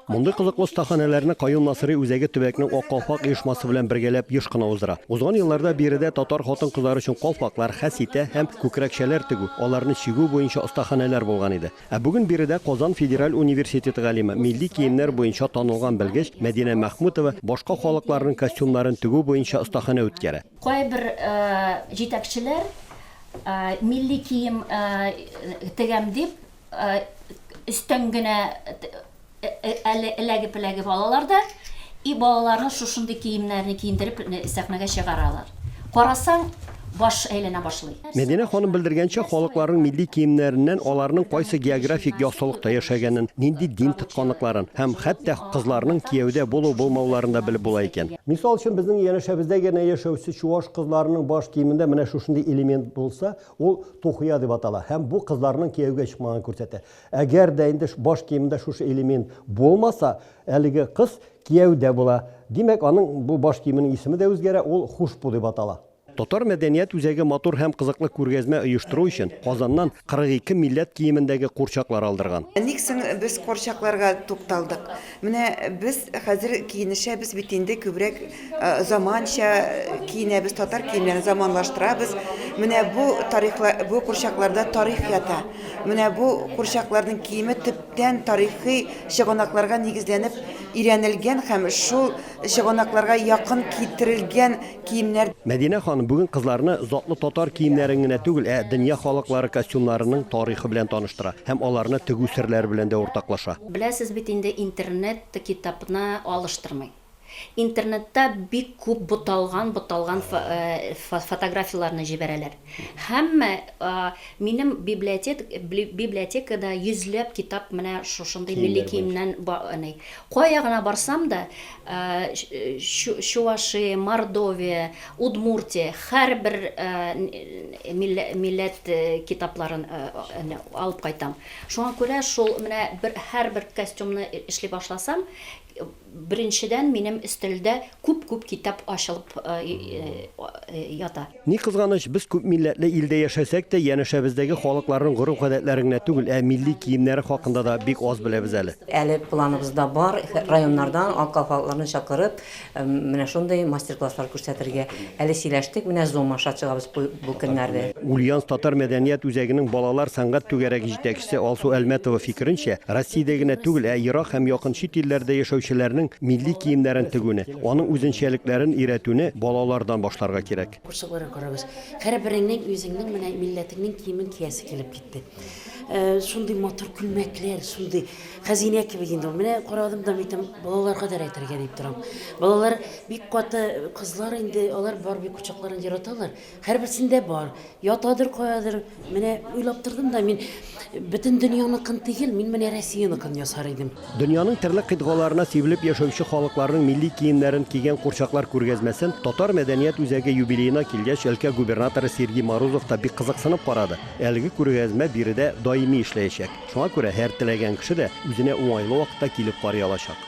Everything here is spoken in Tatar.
Мондый кызыклы остаханәләрне Каюм Насыйри үзәге төбәкнең Ак калфак оешмасы белән бергәләп еш кына уздыра. Узган елларда биредә татар хатын-кызлары өчен калфаклар, хәситә һәм күкрәкчәләр тегү, аларны чигү буенча остаханәләр булган иде. Ә бүген биредә Казан федераль университеты галиме, милли киемнәр буенча танылган белгеч Мәдинә Мәхмүтова башка халыкларның костюмнарын тегү буенча остаханә үткәрә. Кайбер җитәкчеләр милли кием тегәм дип, өстән генә әле эләгеп-эләгеп алалар да, и балаларны шушындый киемнәрне киендереп сәхнәгә чыгаралар. Карасаң, баш әйләнә башлый. Мәдинә ханым белдергәнчә, халыкларның милли киемнәреннән аларның кайсы географик яссылыкта яшәгәнен, нинди дин тотканлыкларын һәм хәтта кызларның кияүдә булу-булмауларын да белеп була икән. Мисал өчен, безнең янәшәбездә генә яшәүче чуаш кызларының баш киемендә менә шушындый элемент булса, Ул тухуя дип атала һәм бу кызларның кияүгә чыкмаганын күрсәтә. Әгәр дә инде баш киемендә шушы элемент булмаса, әлеге кыз кияүдә була. Димәк, аның бу баш киеменең исеме дә үзгәрә, ул хушбу дип атала. Татар мәдәният үзәге матур һәм кызыклы күргәзмә оештыру өчен Казаннан 42 милләт киемендәге курчаклар алдырган. Ник соң без курчакларга тукталдык? Менә без хәзер киенешәбез бит инде күбрәк заманча киенәбез, татар киемнәрен заманлаштырабыз. Менә бу тарихла бу курчакларда тарих ята. Менә бу курчакларның киеме төптән тарихи чыганакларга нигезләнеп өйрәнелгән һәм шул чыганакларга якын китерелгән киемнәр. Мәдинә ханым бүген кызларны затлы татар киемнәрен генә түгел, ә дөнья халыклары костюмнарының тарихы белән таныштыра һәм аларны тегү серләре белән дә уртаклаша. Беләсез бит инде интернет китапны алыштырмый. Интернетта бик күп буталган буталган фотографияләрне җибәрәләр. Һәммә минем библиотек библиотекада йөзләп китап менә шушындый милли киемнән әни. Кая гына барсам да Чуваши, Мордовия, Удмуртия һәрбер милләт китапларын алып кайтам. Шуңа күрә шул менә бер һәрбер костюмны эшли башласам, беренчедән минем өстәлдә күп-күп китап ачылып ята. Ни кызганыч, без күп милләтле илдә яшәсәк тә, янәшәбездәге халыкларның гореф-гадәтләре генә түгел, ә милли киемнәре хакында да бик аз беләбез әле. Әле планыбызда бар, районнардан акыл халыкларны чакырып, Менә шундый мастер-класслар күрсәтергә әле сөйләштек, менә Zoom аша чыгабыз бу көннәрдә. Ульяновск татар мәдәният үзәгенең балалар сәнгать түгәрәге җитәкчесе Алсу Әлмәтова фикеренчә, Россиядә генә түгел, ә ерак һәм якын чит илләрдә яшәүчеләрнең милли киемнәрен тегүне, аның үзенчәлекләрен өйрәтүне балалардан башларга кирәк. Күрше-куйры карабыз. Һәрбереңнең үзеңнең менә милләтеңнең киемен киясе килеп китте. Шундый матур күлмәкләр, шундый хәзинә кебек инде ул. Менә карадым да, әйтәм, балаларга да рәтергә дип торам. Балалар бик каты кызлар инде, алар Барби кочакларын яраталар. Һәрберсендә бар. Ятадыр каядыр. Менә уйлап тордым да, мин бөтен дөньяныкын түгел, мин менә Россияныкын ясар идем. Дөньяның төрле кыйтгаларына сибелеп яшәүче халыкларның милли киемнәрен кигән курчаклар күргәзмәсен Татар мәдәният үзәге юбилеена килгәч, өлкә губернаторы Сергей Морозов та бик кызыксынып карады. Әлеге күргәзмә биредә даими эшләячәк. Шуңа күрә һәр теләгән кеше дә үзенә уңайлы вакытта килеп карый алачак.